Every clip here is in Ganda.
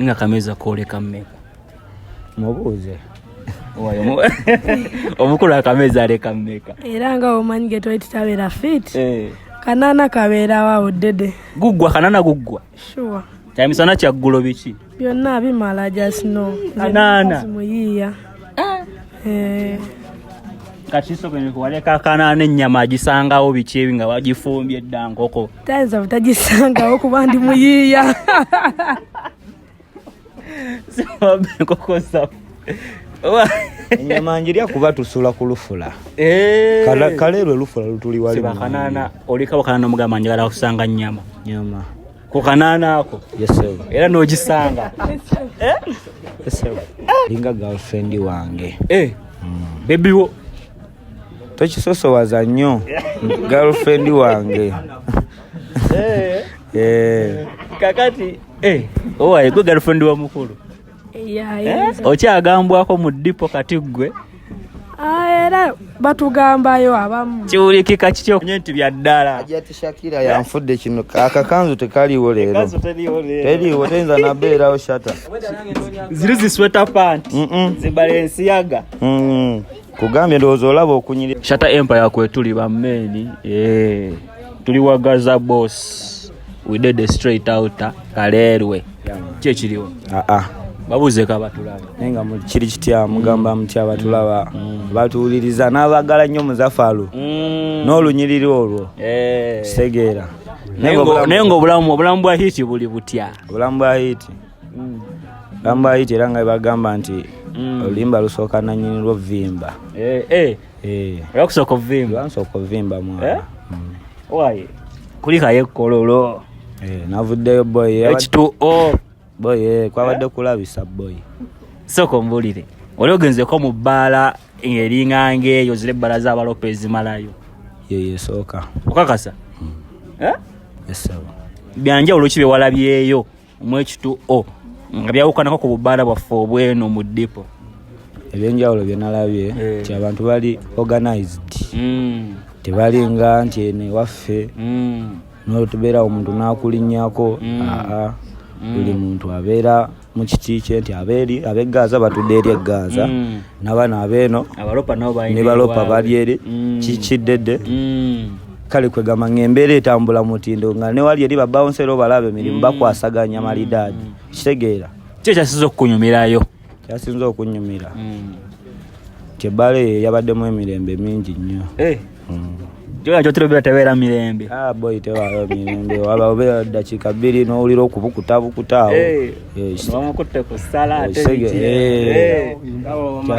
nga kameza koleka mmeka mubuuze omukulu akameza aleka mmeka era nga omanyi ge twali tutabeera fit eh. kanana kabeerawo awo dede guggwa kanana guggwa sure kyamisana kyaggulo biki byonna bimala just no kanana muyiiya ah. eh. kati sokene kuwaleka kanana ennyama agisangawo biki ebi nga wagifumbye dda nkoko tayinza butagisangawo kuba ndi muyiiya enyama njirya kuba tusula ku lufula eh. kale lwe lufula lutuli walibakanana olikabakanana omugamba njagala kusanga nyama nyama ku kanaana ako era nogisanga eh? linga girlfriend wange eh. mm. bebiwo tokisosowaza nnyo girlfriend wange eh. Eh. kakati eh. owaye gwe girlfriend wa mukulu okyagambwako mu dipo kati ggwe Ah, era batugambayo abamu kiwulikika kityo nye nti bya ddala ajati shakira yanfudde kino akakanzu tekaliwo leero teriwo teyinza nabeerawo shata ziri zisweta panti zibala ensiyaga kugambye ndowooza olaba okunyiri shata empire kwetuli bammeeni eh, tuli wagaza boss we did a straight out kaleerwe kyekiriwo aa ah, ah. babuuze kabatulaba naye nga kiri kitya mugamba mm. mutya batulaba mm. mm. batuwuliriza n'abagala nnyo muzafalu n'olunyiriri olwo eh. kitegeera naye nga obulamu obulamu bwa hiti buli butya obulamu bwa hiti mm. gamba ayita era nga bagamba nti mm. oluyimba lusooka nanyini lwo vimba eh, eh. eh. okusooka ovimba nsooka ovimba mwana mm. kulikayo ekkololo navuddeyo boy h2o boy kwabadde kulabisa boy sooka ombulire oli ogenzeko mu bbaala ng'eringanga eyo zira ebbala za balopa ezimalayo yeyo esooka okakasa hmm. eh? byanja olwoki byewalabyeyo mwekitu o nga byawukanako ku bubaala bwaffe obweno mu dipo ebyenjawulo byenalabye eh. nti abantu bali organized mm. tebalinga nti eno ewaffe mm. notubeera omuntu nakulinyako mm. aa buli muntu abeera mu kiti kye nti abeeri abegaaza batudde eri egaaza nabaana abeeno ne balopa bali eri kikiddedde kale kwegamba nga embeera etambula mutindo nga newali eri babawonsero balaba emirimu mm. bakwasaganya malidaadi mm. kitegeera kyo kyasinza okukunyumirayo kyasinza okunyumira mm. kyebbaala eyo yabaddemu emirembe mingi nnyo eh. gyona kyotirobera tebeera mirembe ah, boy tewaawo mirembe waba obeera ddakiika bbiri n'owulira okubukutabukuta awo eh.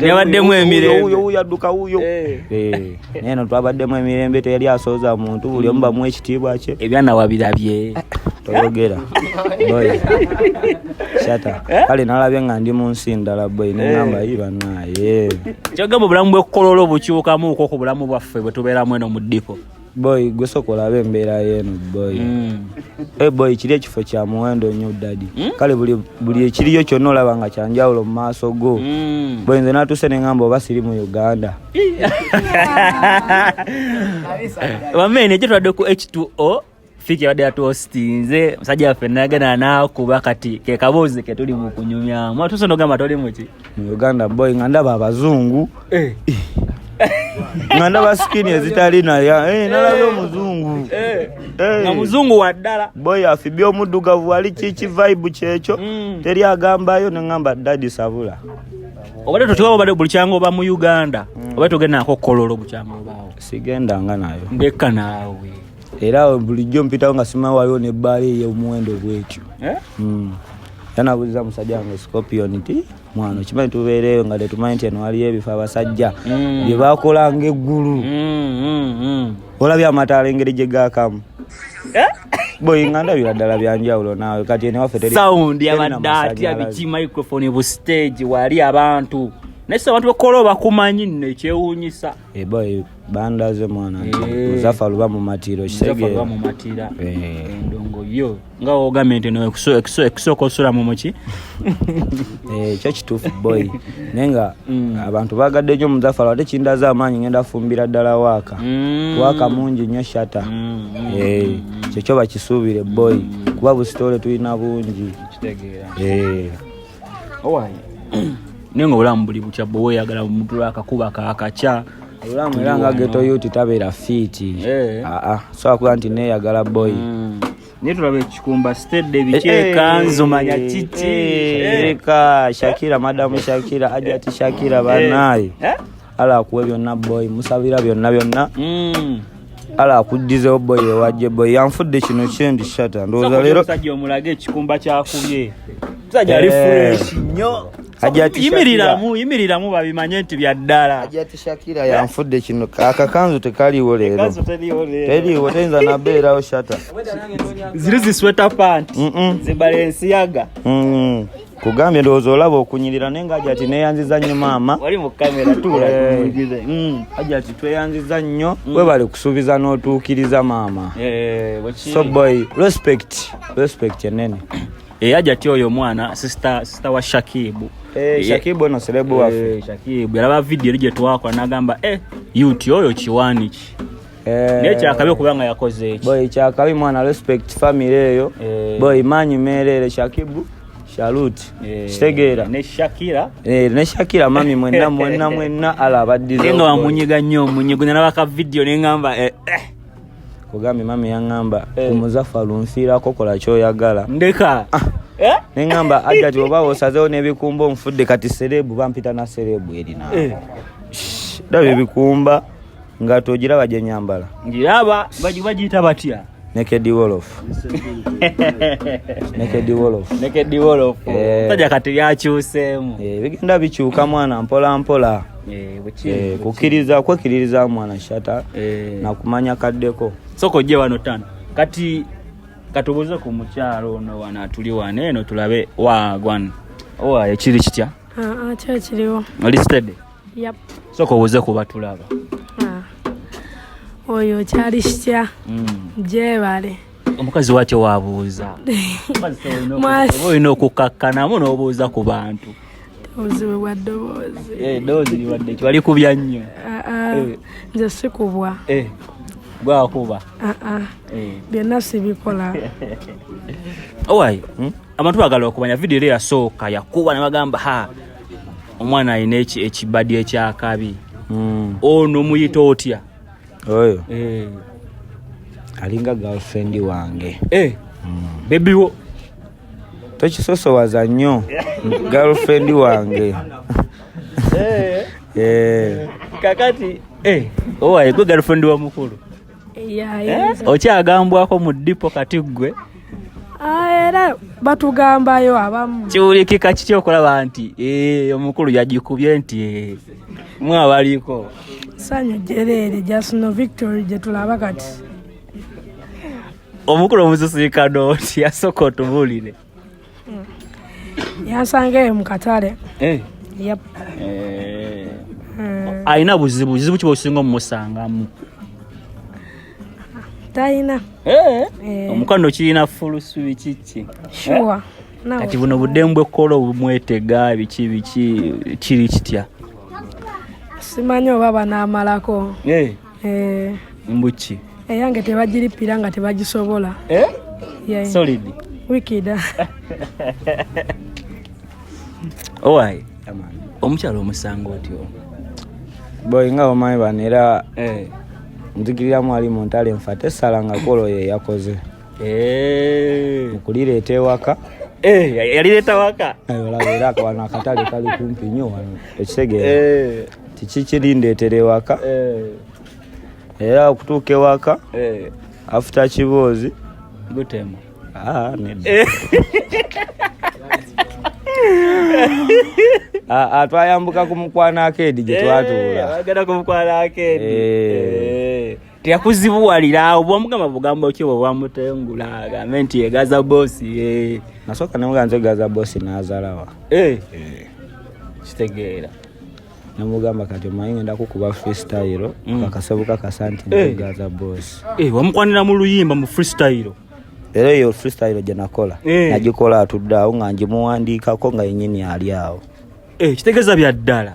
nebaddemu emirembeeno twabaddemu emirembe teyali asooza muntu buli omu bamu ekitiibwa kye ebyanawabirabye toyogera shata eh? kale nalabye nga ndi munsi ndala bwe nengamba eh. ibanaye kyogamba obulamu bwekololo bukyukamuuko ku bulamu bwaffe bwetubeeramu eno mu ddipo boy gwe sooka olabe embeera yeeno boy mm. hey eh, boy kiri ekifo kya muwendo nnyo dadi mm? kale buli ekiriyo kyonna olaba nga kyanjawulo mu maaso go mm. boy nze natuuse ne ngamba oba siri mu uganda wamene ekyo twadde ku h2o fiki abadde yatuhostinze musajja waffe nayagana nakuba kati kekaboozi ketuli mu kunyumyamu atuuse nogamba toli muki mu uganda boy nga ndaba abazungu eh. nga ndaba sikini ezitali naya eh, nalabe eh. omuzungu nga muzungu waddala boy afibye omuddugavu wali kiki vibe kyekyo mm. teri agambayo nengamba dadi sabula obadde totiwa obadde buli kyanga oba mu uganda mm. obadde togenda nako kololo bukyanga obaawo sigendanga nayo ndekka naawe era bulijjo mpitawo nga simanyi waliwo nebbaala eyomuwendo bwetyo eh? hmm. yanabuuziza musajja wange scorpion ti mwana okimanyi tubeereeyo nga tetumanyi nti eno waliyo ebifo abasajja hmm. bye bakola ngaeggulu hmm, olabye amataala engeri gye gaakamu eh? boyinga ndabira ddala byanjawulo naawe kati enewaffe terisawundi abadde atya biki microphone bu stage wali abantu naye si abantu bekola obakumanyi nno ekyewuunyisa eboy bandaze mwana Eh. zafa luba mu matiiro Nzafa kisege lwa mu matira Eh. endongo yo nga wogambye nti no ekuso- ekuso- ekusooka osula mu muki Eh, kyo kituufu boy naye nga Mm. abantu bagadde nnyo muzafalo ate kindaza amaanyi ngenda fumbira ddala waaka Mm. waaka mungi nnyo shata Mm, mm, Eh, kyekyo bakisuubire boy kuba busitole tulina bungi kitegeera Eh, owange naye nga obulamu buli butya bwe weyagala mutula akakuba kakakya obulamu era nga geto yuti tabeera fiiti eh. aa ah, ah. sobola kuba nti neyagala boyi hmm. naye tulaba ekikumba stedde bikyekanzu eh, eh, manya kiki eka shakira madamu shakira ajati shakira banaye ala akuwe byonna boy musabira byonna byonna mm. ala akuddizewo boy ewajje boy yanfudde kino kyendi shata ndowooza leero omusajja omulage ekikumba kyakubye omusajja ali eh. fuleshi nnyo yimiriramu yimiriramu babimanye nti byaddala ajatishakira yanfudde kino akakanzu tekaliwo leero teriwo teyinza nabeerawo shata ziri zisweta panti zibala ensiyaga mm. kugambye ndowooza olaba okunyirira naye nga ajati neyanziza nnyo maama wali mu kamera tuula eh. mm. ajati tweyanziza nnyo mm. webale kusuubiza n'otuukiriza maama eh, so boy respect respect enene eya eh, jati oyo omwana sister sister wa shakibu eh, shakibu no serebu wafe eh, shakibu yalaba video lije twakwa nagamba eh yuti oyo kiwani ki Eh, naye kyakabi okuba nga yakoze eki boy kyakabi mwana respect family eyo eh. boy manyi merere shakibu shalut eh, kitegeera ne shakira eh, ne shakira mami mwenna mwenna mwenna ala abaddize nga wamunyiga nnyo omunyigo nalabaka vidiyo ne ngamba eh, eh. kugambye mami yaŋŋamba eh. omuzafalu nfiirako kola kyoyagala ndeka ah. Eh? neŋamba ajati oba osazewo nebikumba omufudde kati serebu bampita na serebu erina eh. daba ebikumba nga togiraba gye nyambala ngiraba bagiyita batya Naked Wolof. Naked Wolof. Naked Wolof. Eh. Taja kati yakyuseemu. Eh, bigenda bikyuka mwana mpola mpola. Eh, eh kukiriza kwekiririza mwana shata eh, na kumanya kaddeko. Soko je wano tano. Kati katubuze ku mukyalo ono wana tuli wane eno tulabe wa gwan. Owa ekiri kitya? Ah, ah, kya kiriwo. Oli steady. yep. soka obuze kuba tulaba ah. oyo kyali kitya mm. gyebale omukazi watyo wabuuza olina okukkakkanamu n'obuuza ku bantu obuzibu bwa ddoboozi eh, ddoboozi liwadde ki wali kubya nnyo ah, ah. eh. nze sikubwa eh. gwakuba ah, byonna sibikola owaye hmm? abantu bagala okumanya vidiyo era yasooka yakuba ne bagamba ha omwana alina ekibadi ekyakabi hmm. ono muyita otya oyo eh. alinga girlfriend wange eh. hmm. bebiwo tokisosowaza nnyo girlfriend wange eh. kakati owaye gwe girlfriend wa mukulu Eh, okyagambwako mu dipo kati ggwe ah, era batugambayo abamu kiwulikika kiki okulaba nti eh, omukulu yagikubye nti eh, mwabaliko sanyu jereere jasno victory gyetulaba kati omukulu omusisikano nti yasooka otubulire yansanga eyo mu katale eh. eh. hmm. alina buzibu buzibu kiba osinga omumusangamu talina eh. omukwano kirina fulusubi kiki kati buno buddemu bwekkola obumwetega biki biki kiri kitya simanyi oba banaamalako eh. mbuki eyange eh, tebagirippira nga tebagisobola eh? yeah. solid wikida owaye omukyalo omusanga otyo boy nga omanyi bano era eh. nzikiriramu ali mu ntale nfa tesala nga kolo ye yakoze eh. mukulireeta ewaka eh, yalireeta waka olaba era wano akatale kali kumpi nnyo wano ekitegeera kiki kirindeetera ewaka era okutuuka ewaka afuta kiboozi gutema ah, Ah, ah, twayambuka ku mukwano akeedi gye eh, twatuula teyakuzibuwalira awo bwamugamba bugambo ki bwe bwamutengula agambe nti egaza bosi eh. nasooka nemugaa nti egaza bosi nazalawa eh. eh. kitegeera namugamba kati omanyi ngenda kukuba freestyle mm. kakasebuka kasa nti egaza bosi wamukwanira mu luyimba mu freestyle era eyo freestyle gye nakola nagikola atudde awo nga ngimuwandiikako nga yenyini ali awo kitegeeza bya ddala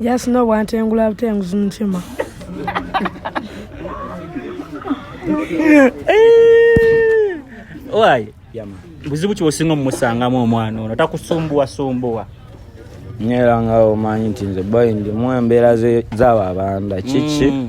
jasina obwantengula butenguzi mutima owaye buzibu ki osinga omumusangamu omwana ono takusumbuwasumbuwa nyera nga omanyi nti nze boy ndimu embeera z'abo abanda kiki mm.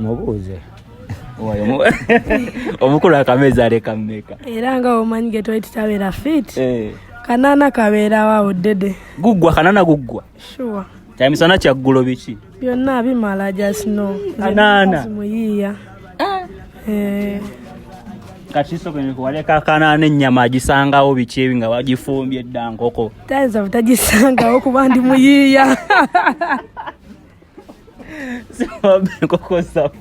mubuuze omukulu akamezi aleka mmeka era nga omanyi ge twali tutabeera fit eh. kanana kabeerawo awo dede guggwa kanana guggwa sure kyamisana kyaggulo biki byonna bimala just no kanana muyiiya ah. eh. kati kisoboka waleka akanaana ennyama agisangawo biki ebi nga wagifumbye dda nkoko tayinza butagisangawo kuba ndi muyiiya siwabba enkoko zaffe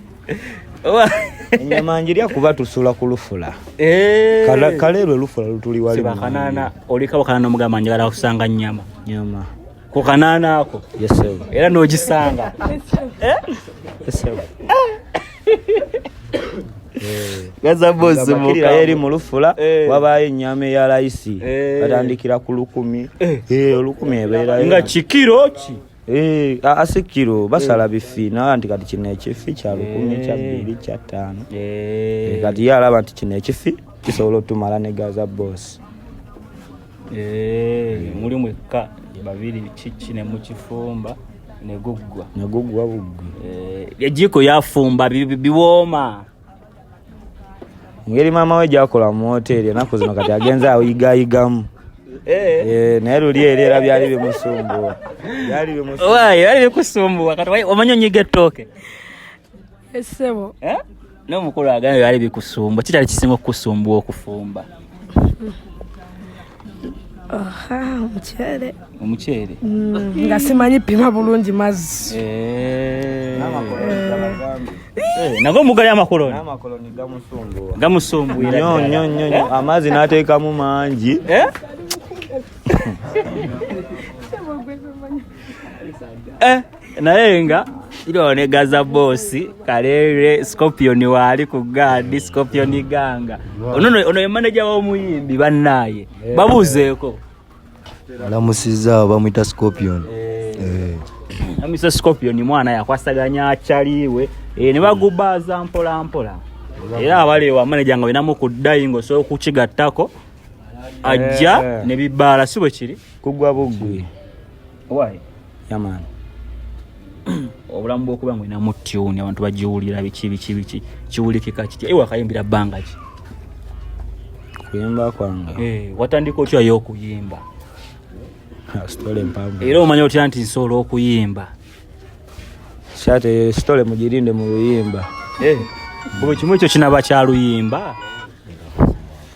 enyama njirya kuba tusula ku lufula eh. kale lwe lufula lutuli walibakanana olika bakanana omugamba njagala kusanga nyama nyama ku kanana ako era nogisanga gazabozimukira eri mu lufula eh. wabaayo ennyama eya layisi eh. batandikira ku lukumi eh. olukumi ebeerayo nga kikiro ki Eh, ase kiro basala eh. bifi nawa nti kati kino ekifi kya lukumi kya eh. bbiri kya ttaano kati ye alaba nti kino ekifi kisobola otumala ne gaza boss muli mwekka babiri kiki ne mukifumba neguggwa neguggwa buggwi ejiiko yafumba biwooma ngeri maama we gyakola mu woteeri enaku zino kati agenze ayigayigamu eh. eh, naye luli eri era byali bimusumbuwa byali bikusumbuwa kati omanyi onyiga ettooke esebo eh, eh? nomukulu agambye byali bikusumbuwa kitali kisinga okukusumbuwa okufumba omuceere omuceere mm, nga simanyi pima bulungi mazzi eh. eh, nago mugali amakoloni gamusumbunyonyonyo amazzi n'ateekamu mangi eh? eh, naye nga ne gaza bosi kalere scorpion waali ku gaadi scorpion ganga ono ye maneja w'omuyimbi bannaye eh. babuuzeeko alamusizza bamwita scorpion eh. amisa scorpion mwana yakwasaganya akyaliiwe ne bagubaaza mpola mpola era abali wamaneja nga olinamu ku dayingo osobola okukigattako ajja eh. ne bibaala si bwe kiri kugwa bugwi why yaman obulamu bwokuba ngolina mu tune abantu bagiwulira biki biki biki kiwulikika kitya ewe akayimbira bbanga ki kuyimba kwange eh, watandika otya yo okuyimba era omanya otya nti nsobola okuyimba kyate sitole mugirinde mu luyimba eh, buli kimu ekyo kinaba kyaluyimba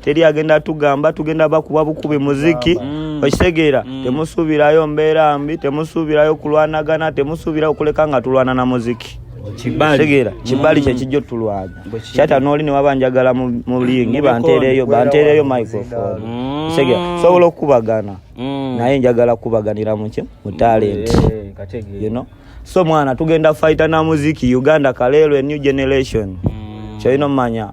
teri agenda tugamba tugenda bakuba bukubi muziki mm. okitegeera mm. temusuubirayo mbeera mbi temusuubirayo kulwanagana temusuubirayo okuleka nga tulwana na muziki kibalitegera kibali mm. kyekijja otulwanya kyata nooli newaba njagala mulingi banteereyo banteereyo microphone kitegera mm. sobola okukubagana mm. naye njagala kukubaganira muki mu talent you know so mwana tugenda faita na muziki uganda kaleero a new generation kyolina omumanya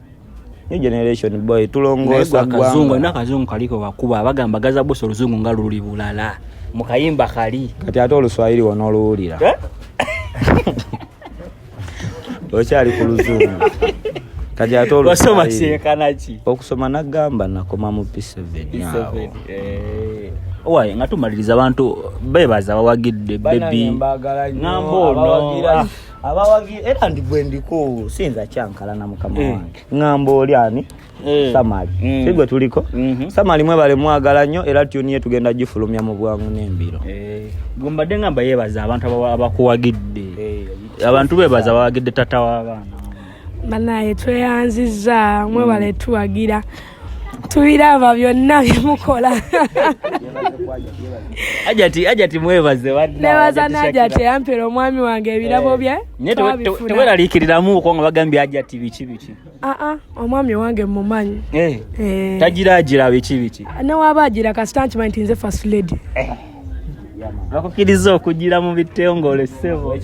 new generation boy tulongoosa kazungu na kazungu kaliko wakuba abagamba gaza bosi oluzungu nga luli bulala mukayimba kali kati ate oluswahili wona oluwulira eh? okyali ku luzungu kati ate olusoma kyekanaki okusoma nagamba nakoma mu p7 awo eh. owaye nga tumaliriza abantu bebaza bawagidde bebi ngamba ono abawagira era ndi gwe ndiko sinza kyankala na mukama eh. wange ng'amba oli ani eh. samali mm. sigwe tuliko mhm. samali mwebale mwagala nnyo era tyuniye tugenda gifulumya mu bwangu n'embiro eh. gwe mbadde ngamba yeebaza abantu abakuwagidde abantu beebaza abawagidde tata w'abaana banaye tweyanzizza mwebale mm. tuwagira mm. tubiraba byonna byemukola ajati ajati mwebaze nebaza najati yampera omwami wange ebirabo eh, bye teweralikiriramu uko nga bagambye ajati biki biki aa ah, ah, omwami wange mumanyi eh, eh. tagira agira biki biki newaba agira kasita nkimanyi tinze first lady bakukiriza okugira mu bitongole sebo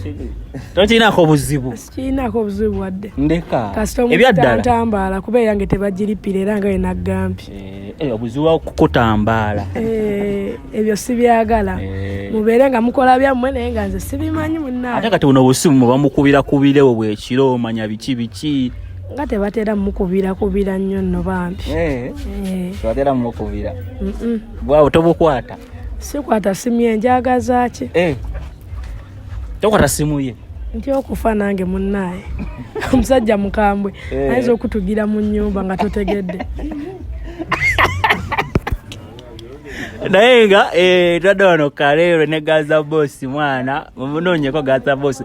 tokirinako buzibu sikirinako buzibu wadde ndeka ebyaddalatambaala kuba eyange tebagiripira era nga yenagambye eh, eh, obuzibu wakukutambaala eh, ebyo sibyagala mubeere nga mukola byammwe naye nga nze sibimanyi munaate kati buno obusimu mubamukubira kubirewo bwekiro omanya biki biki nga tebatera mukubira kubira nnyo nno bambi tebatera mukubira bwawo tobukwata sikwata simu ye njagaza ki eh. tokwata simu ye nti okufa nange munaaye omusajja mukambwe eh. ayinza okutugira mu nyumba nga totegedde naye nga eh, twadde wano kaleero ne gaza bosi mwana munoonyeko gaza bosi